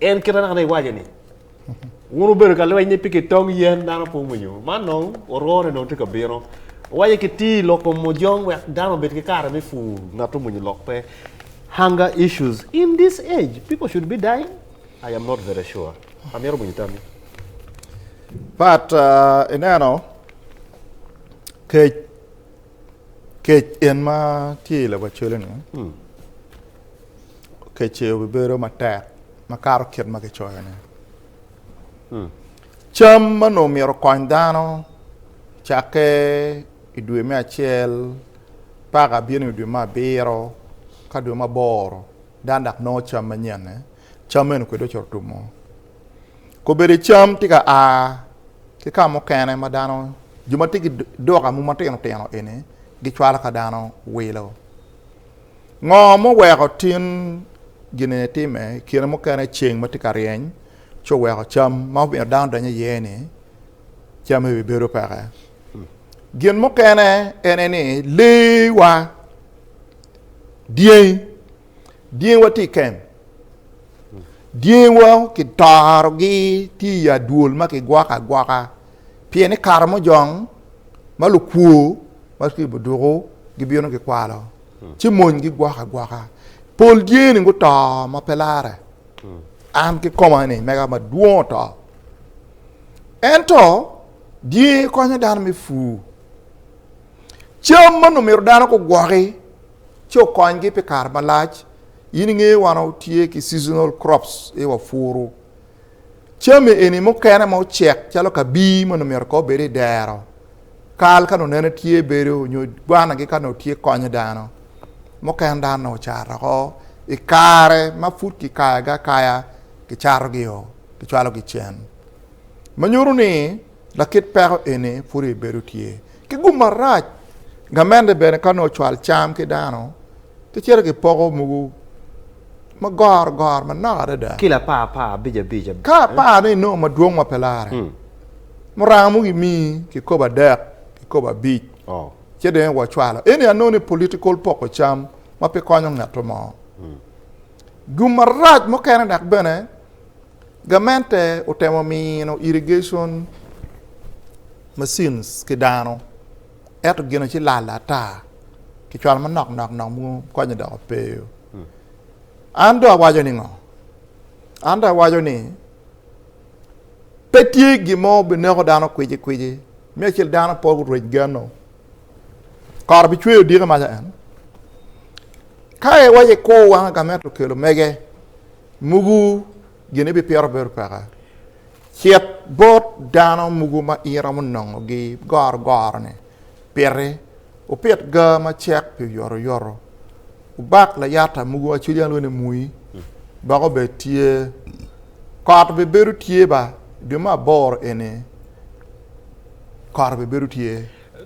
En kite anaka ni iwaco ni wun wubedo ka lweny ni pi kitong yen dano pe winyo man nong orone nong tye ka bino wace ki tii loko mojong wek dano obed ki kare me pur ngat omwonyo lok pe hunger issues in this age people should be dying I am not very sure amyero winyo tammi but uh, ineno kec kec en ma tye i lawa cwele ni hmm. Keceo bibedo matek makato kit ma kicoyone. Cam ma onongo myero okony dano cakke i dwe me acel paka bino i dwe me abiro ka dwe me aboro dano dok nongo cam manyenne, cam meno kwede ocito tumo. Kobedi cam tye ka a ki ka mukene ma dano, jo ma tye ki duka mogo matino tino eni gicwalo ka dano wilo. Ngo muweko tin gine time i kine mukene ceng ma tye ka ryeny ci oweko cam ma omiyo dano donyo iye ni cam eni bedo peke? Gin mukene ene ni lee wa dyangi dyangi wa tye i kem dyangi wa ki toro gi tye i adwol ma ki gwoko agwoka pien ni kare mojong ma lukwor ma ki buduku gibino gikwalo. ci monygi gwok agwoka. Pol dyeni guto ma pe lare, an kikoma-ni mega madwong oto. Ento dyengi konyo dano me pur cam ma nongo myero dano gugwoki ci okonygi pi kare malac. In ingeyo wan watye ki seasonal crops, ee wapuru. Jami eni mukene ma ocek calo kabii ma onongo myero kong obed i dero, kal ka onongo nene tye bedo nyo gwanagi ka onongo tye konyo dano. Mukene dano onongo ocato woko i kare ma pud kikayogi akaya kicatogi-o kicwalogi cen ma nyuto ni Lakit peko eni pud ibibedo tye ki gum marac. Gamente bene ka nongo ocwal cam ki dano, ki cito ki poko mogo ma goro goro manok adada. Kilo apar apar abic abic. Ka apar ni inongo madwong ma pe lare, muranga mogo imi kikopo adek, kikopo abic, ce dong iwe ocwalo. Eni anongo ni political poko cam ma pe konyo ngeto mo. Gum marac mukene dok bene Gamente otemo mino irrigation machines ki dano ento gino ci lal ata. Kicwalo manok nok nok mogo konye dok opeyo. An do awaco ni ngo? An do awaco ni pe tye gin mo bineko dano kwici kwici. Me acel dano pe orec geno. Kara bi cweyo dike maca en. Ka iwace ko wanga ka meto kelo mege mugu gini bi piro bedo peka. Cit bot dano mugu ma in romo nongo gi goro goro ni piti upit ga ma cek pi oyoto oyoto ubak layata mugu aceli an wene mui bako be tye koro be bedo tye ba dwe ma aboro eni koro be bedo tye.